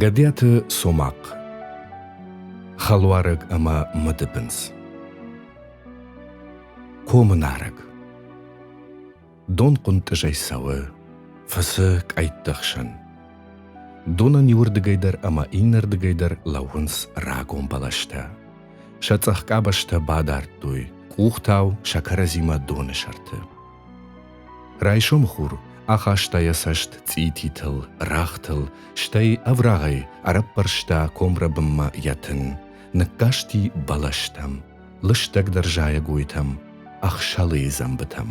Гӕдиаты Цомахъ Хӕлуарӕг ӕмӕ мыдыбындз Комы нарӕг Дон хъуынтъызӕй цӕуы, фыцы къӕйтты хсӕн. Донӕн иуырдыгӕй дӕр ӕмӕ иннӕрдыгӕй дӕр лӕууынц рагон бӕлӕстӕ. Сӕ цъӕх къабӕзтӕ бадардтой, къухтау сӕ кӕрӕдзимӕ доны сӕрты. Райсомы хур ахаста йӕ цӕст цъититыл, рӕгътыл, стӕй ӕврагъӕй ӕрӕппӕрста комрӕбынмӕ йӕ тын, ныккасти бӕлӕстӕм, лыстӕгдӕр зайӕгойтӕм, ӕхсӕлыйы дзӕмбытӕм.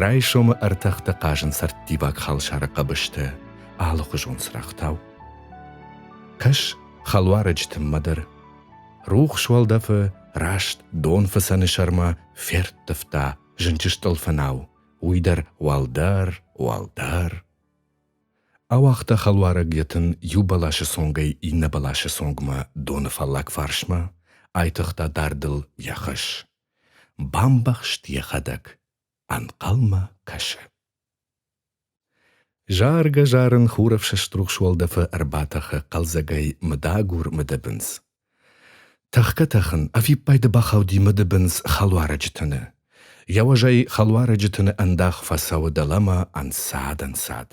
Райсомы ӕртӕхтӕ хъазын цӕрттиваг халсары хъӕбыстӕ, алыхуызон цырӕгътау. Кӕс хӕлуарӕджы тынмӕ дӕр. Рухс уӕлдӕфы раст донфыцӕны сӕрмӕ Ферттывта зынджы стъӕлфынау, уый дӕр уӕлдӕр, уӕлдӕр. Ауагъта хӕлуарӕг йӕ тын иу бӕласы цонгӕй иннӕ бӕласы цонгмӕ доны фаллаг фарсмӕ, айтыгъта дардыл йӕ хӕс. Бамбӕхст йӕхӕдӕг, ӕнхъӕлмӕ кӕсы. Заргӕ-зарын хурӕфсӕст рухс уӕлдӕфы ӕрбатӕхы хъӕлдзӕгӕй мыдагур мыдыбындз. Тӕхгӕ-тӕхын ӕвиппайды бахауди мыдыбындз хӕлуарӕджы тыны. Йӕ уӕзӕй хӕлуарӕджы тыны ӕндах фӕцӕуы дӕлӕмӕ ӕнцад-ӕнцад.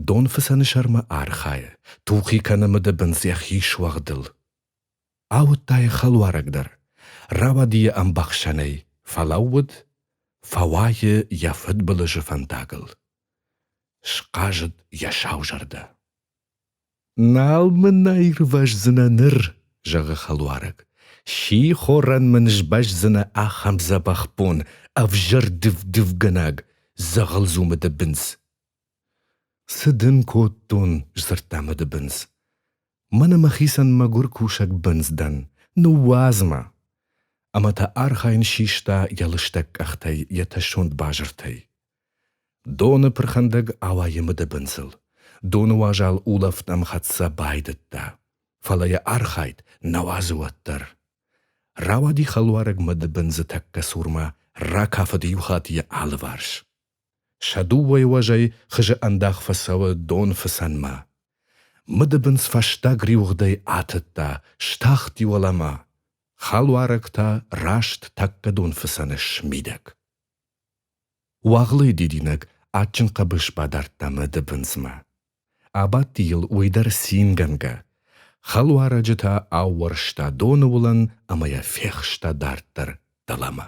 Донфыцӕны сӕрмӕ архайы, тухи кӕны мыдыбындз йӕхи суӕгъдыл. Ауыдта йӕ хӕлуарӕг дӕр, рауади йӕ ӕмбӕхсӕнӕй, фӕлӕууыд, фӕуайы йӕ фыдбылызы фӕндагыл. Схъазыд йӕ сау зӕрдӕ. «Нал мын аирвӕздзынӕ ныр», — зӕгъы хӕлуарӕг. «Сихорӕн мын сбӕздзынӕ ахӕм дзӕбӕх бон, ӕвзӕр дыв-дывгӕнӕг, дзӕгъӕлдзумы дыбындз». «Цы дын кодтон?» — сдзырдта мыдыбындз. Мӕнӕ мӕхицӕн мӕгуыр кусӕг бындз дӕн, ныууадз мӕ! Ӕмӕ та архайын систа йӕ лыстӕг къӕхтӕй йӕ тӕссонд базыртӕй. Доны пырхӕндӕг ауайы мыдыбындзыл. Доны уазал улӕфт ӕмхӕццӕ байдыдта. Фӕлӕ йӕ архайд нӕ уадзы уӕддӕр. Рауади хӕлуарӕг мыдыбындзы тӕккӕ цурмӕ, ракафыд иу хатт йӕ алыварс. Сӕ дыууӕ уӕзӕй хызы ӕндах фӕцӕуы донфыцӕнмӕ. Мыдыбындз фӕстаг риуыгъдӕй атыдта, стахти уӕлӕмӕ. Хӕлуарӕг та раст тӕккӕ донфыцӕны смидӕг. Уагълыйы дидинӕг адджын хъӕбыс бадардта мыдыбындзмӕ. Абадти йыл уый дӕр цингӕнгӕ. Хӕлуарӕджы та аууӕрста доны уылӕн ӕмӕ йӕ фехста дарддӕр дӕлӕмӕ.